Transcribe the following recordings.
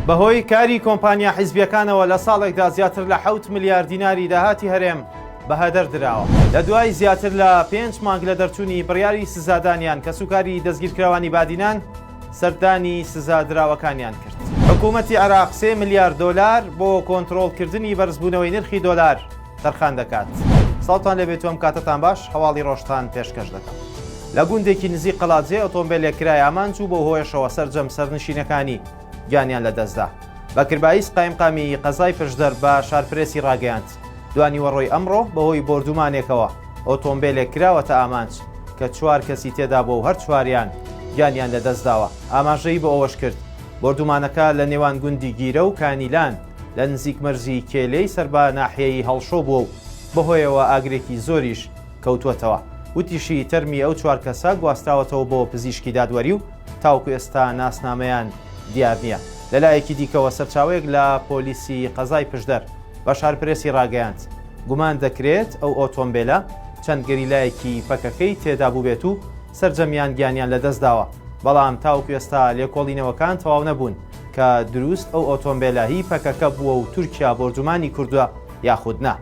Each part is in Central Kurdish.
بەهۆی کاری کۆمپانیا حیزبیەکانەوە لە ساڵێکدا زیاتر لە حوت ملیار دیناری داهاتی هەرێم بە هەدەر دراوە لە دوای زیاتر لە پێنج مانگ لە دەرچوونی بڕیاری سزادانیان کە سوکاری دەستگیرکراوانی بادینان سەردانی سزادراوەکانیان کرد حکوومەتتی عراق سێ ملیار دۆلار بۆ کۆنتترۆلکردنی بەرزبوونەوەی نرخی دۆلار تەرخان دەکات. سڵاوتان لێبێت و ئەم کاتەتان باش، هەواڵی ڕۆژتان پێشکەش دەکەم. لە گوندێکی نزیک قەڵادزێ ئۆتۆمبێلێک کرای ئامانج و بەو هۆیەشەوە سەرجەم سەرنشینەکانی گیانیان لەدەستدا. بەکر بایز قایمقامی ی قەزای پشدەر بە شارپرێسی ڕاگەیاند، دوانیوەڕۆی ئەمڕۆ بەهۆی بۆردوومانێکەوە ئۆتۆمبێلێک کراوەتە ئامانج کە چوار کەسی تێدابووە و هەر چواریان گیانیان لەدەستداوە، ئاماژەی بۆ ئەوەشکرد، بۆردوومانەکە لە نێوان گوندی گیرە و کانیلان، لە نزیک مەرزی کێلێی سەر بە ناحیەیی هەڵشۆ بووە و بەهۆیەوە ئاگرێکی زۆریش کەوتووەتەوە. وتیشی، تەرمی ئەو چوار کەسە گواستراوەتەوە بۆ پزیشکی دادوەری و تاوەکو ئێستا ناسنامەیان دیار نییە. لەلایەکی دیکەوە سەرچاوەیەک لە پۆلیسی قەزای پشدەر بە شارپرێسی راگەیاند، گومان دەکرێت ئەو ئۆتۆمبێلە چەند گەریلایەکی پەکەکەی تێدا بووبێت و سەرجەمیان گیانیان لەدەستداوە، بەڵام تاوەکو ئێستا لێکۆڵینەوەکان تەواو نەبوون. کە دروست ئەو ئۆتۆمبێلە هی پەکەکە بووە و تورکیا بۆردومانی کردووە یاخود نا.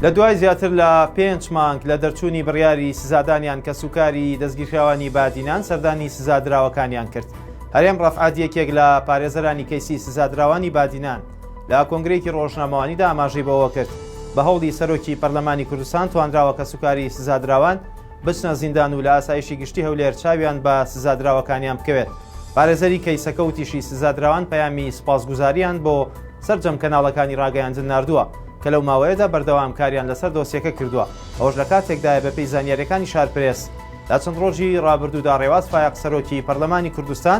لە دوای زیاتر لە پێنج مانگ لە دەرچوونی بڕیاری سزادانیان کەسوکاری دەستگیرکراوانی بادینان سەردانی سزادراوەکانیان کرد. هەرێم ڕەفعەت یەکێک لە پارێزەرانی کەیسی سزادراوانی بادینان لە کۆنگرەیەکی ڕۆژنامەوانیدا ئاماژەی بەوەکرد، بە هەوڵی سەرۆکی پەرلەمانی کوردستان توانراوە کەسوکاری سزادراوان بچنە زیندان و لە ئاسایشی گشتی هەولێر چاویان بە سزادراوەکانیان بکەوێت. پارێزەری کەیسەکە وتیشی سزادراوان پەیامی سوپاسگوزارییان بۆ سەرجەم کەناڵەکانی راگەیاندن ناردووە، کە لەو ماوەیەدا بەردەوام کاریان لەسەر دۆسیەکە کردووە، ئەوەش لە کاتێکدایە بەپێی زانیارییەکانی شارپرێس لە چەند رۆژی رابردوودا رێواز فایەق سەرۆکی پەرلەمانی کوردستان،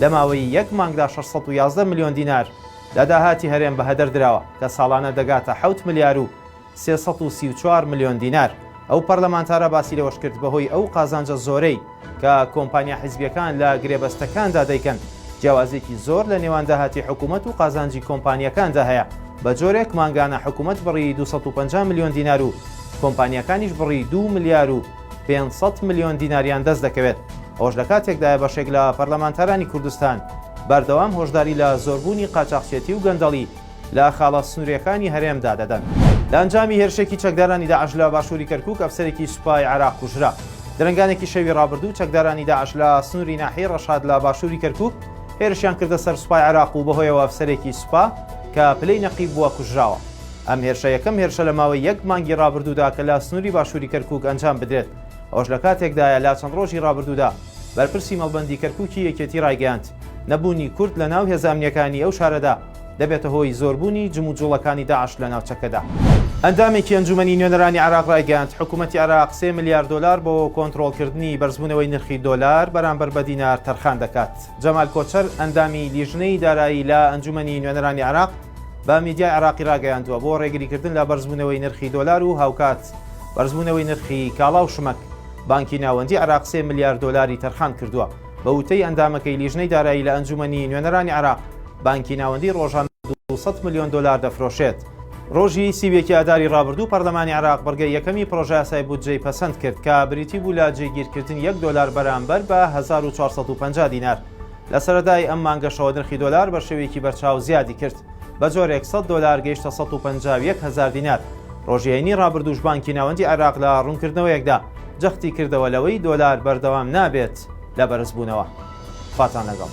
لە ماوەی یەک مانگدا شەش سەد و یازدە ملیۆن دینار لە داهاتی هەرێم بەهەدەر دراوە، کە ساڵانە دەگاتە حەوت ملیار و سێ سەد و سی و چوار ملیۆن دینار. ئەو پەرلەمانتارە باسی لەوەشکرد، بەهۆی ئەو قازانجە زۆرەی کە کۆمپانیا حزبییەکان لە گرێبەستەکاندا دەیکەن، جیاوازییەکی زۆر لە نێوان داهاتی حکوومەت و قازانجی کۆمپانیاکاندا هەیە، بەجۆرێک مانگانە حکوومەت بڕی دوو سەد و پەنجا ملیۆن دینار و کۆمپانیاکانیش بڕی دوو ملیار و پێنج سەد ملیۆن دیناریان دەست دەکەوێت، ئەوەش لە کاتێکدایە بەشێک لە پەرلەمانتارانی کوردستان بەردەوام هۆشداری لە زۆربوونی قاچاخچێتی و گەندەڵی لە خاڵە سنوورییەکانی هەرێمدا دەدەن. لە ئەنجامی هێرشێکی چەکدارانی داعش لە باشووری کەرکووک ئەفسەرێکی سوپای عێراق کوژرا. درەنگانێکی شەوی ڕابردوو چەکدارانی داعش لە سنووری ناحیەی ڕەشاد لە باشووری کەرکووک هێرشیان کردە سەر سوپای عێراق و بەهۆیەوە ئەفسەرێکی سوپا کە پلەی نەقیب بووە کوژراوە. ئەم هێرشە یەکەم هێرشە لە ماوەی یەک مانگی ڕابردوودا کە لە سنووری باشووری کەرکووک ئەنجام بدرێت، ئەوەش لە کاتێکدایە لا چەند ڕۆژی ڕابردوودا بەرپرسی مەڵبەندی کەرکووکی یەکێتی ڕایگەیاند، نەبوونی کورد لە ناو هێزە ئەمنییەکانی ئەو شارەدا دەبێتە هۆی زۆربوونی جموجووڵەکانی داعش لە ناوچەکەدا. ئەندامێکی ئەنجوومەنی نوێنەرانی عێراق ڕایگەیاند، حکوومەتی عێراق سێ ملیار دۆلار بۆ کۆنترۆڵکردنی بەرزبوونەوەی نرخی دۆلار بەرامبەر بە دینار تەرخان دەکات. جەمال کۆچەر، ئەندامی لیژنەی دارایی لە ئەنجوومەنی نوێنەرانی عێراق، بە میدیای عێراقی راگەیاندووە، بۆ رێگریکردن لە بەرزبوونەوەی نرخی دۆلار و هاوکات بەرزبوونەوەی نرخی کاڵا و شمەک، بانکی ناوەندی عێراق سێ ملیار دۆلاری تەرخان کردووە. بە وتەی ئەندامەکەی لیژنەی دارایی لە ئەنجوومەنی نوێنەرانی عێراق، بانکی ناوەندی رۆژانە دوو سەد ملیۆن دۆلار دەفرۆشێت. رۆژی سی و یەک ی ئاداری رابردوو پەرلەمانی عێراق بڕگەی یەکەمی پڕۆژەیاسای بودجەی پەسەند کرد کە بریتی بوو لە جێگیرکردنی یەک دۆلار بەرامبەر بە هەزار و چوار سەد و پەنجا دینار لە سەرەتای ئەم مانگەشەوە نرخی دۆلار بە شێوەیەکی بەرچاو زیادی کرد، بە جۆرێک سەد دۆلار گەیشتە سەد و پەنجا و یەک هەزار دینار. ڕۆژی هەینی ڕابردووش بانکی ناوەندی عێراق لە ڕوونکردنەوەیەکدا جەختی کردەوە لەوەی دۆلار بەردەوام نابێت لە بەرزبوونەوە. خواتان لەگەڵ.